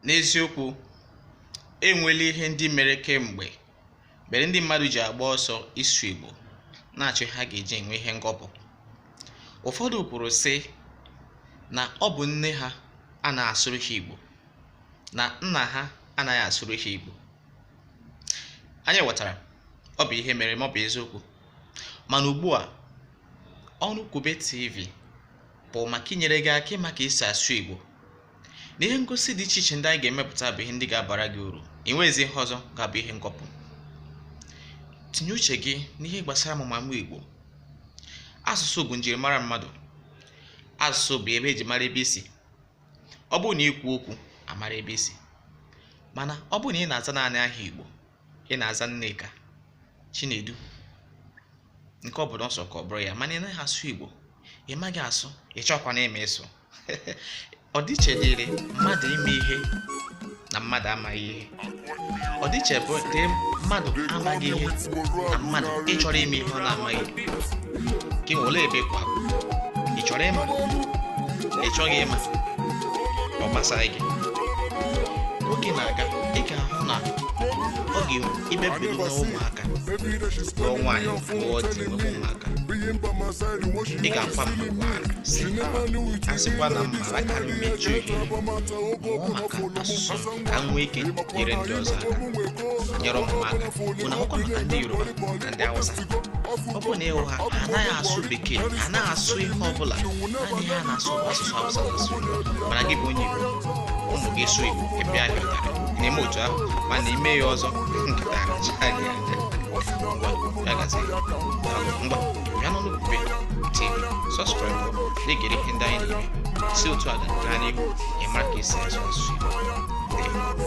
N'eziokwu, e nweela ihe ndị mere kemgbe mere ndị mmadụ ji agba ọsọ ịsụ Igbo na-achọ ha ga-eji enwe ihe ngọpụ. Ụfọdụ kwuru sị na ọ bụ nne ha anaghị asụrụ ha Igbo na nna ha anaghị asụrụ ha Igbo. Anyị ghọtara ọ bụ ihe mere ma ọ bụ eziokwu mana ugbu a Ọnụ Kwube TV bụ maka inyere gị aka ịma ka esi asụ Igbo na ihe ngosi dị iche iche ndị anyị ga-emepụta bụ ihe ndị ga-abara gị uru i nweghịzi ihe ọzọ ga-abụ ihe ngọpụ tinye uche gị n'ihe gbasara amụmamụ igbo asụsụ bụ njirimara mmadụ asụsụ bụ ebe e ji mara ebe i si ọ bụrụ na i kwuo okwu a mara ebe i si mana ọ bụrụ na ị na-aza naanị aha igbo ị na-aza nneka chinedu nke ọ bụla ọ sọ ka ọ bụrụ ya mana ị naghị asụ igbo ị maghị asụ ị chọkwanụ ịma ịsụ ọdịiche dịrị mmadụ ịma ihe na mmadụ amaghị ihe ọdịiche bụ dị mmadụ amaghị ihe na mmadụ ịchọrọ ịma ihe ọ na-amaghị gị olee ebe ị kwụ ị chọrọ ịma ị chọghị ịma ọ gbasaghị gị oge na-aga ị ga-ahụ na ọ ga-emebiri n'ụmụaka lụọ nwaanyị lụọ di nwebe ụmụaka ị ga-akwa mmakwaara sị a sịkwa na m mara aka m eji ohere mụọ maka asụsụ m ka m nwee ike nyere ndị ọzọ aka nyere ụmụ m aka bụ na ọkwa maka ndị yoruba na ndị hausa ọ bụrụ na ị hụ ha ha anaghị asụ bekee ha anaghị asụ ihe ọ bụla naanị ha na-asụ bụ asụsụ hausa na asụ yoruba mana gị bụ onye igbo ụmụ gị sụ igbo ị pịa ha ụtarị na-eme otu ahụ mana i mee ya ọzọ nkịta aracha gị anya Ngwa, ya gazie. Ngwa. bịa n'Ọnụ Kwube TV sọskraịbụ na-egere ihe ndị anyị na-eme si otu a gaa n'ihu ịmara ka esi asụ asụsụ Igbo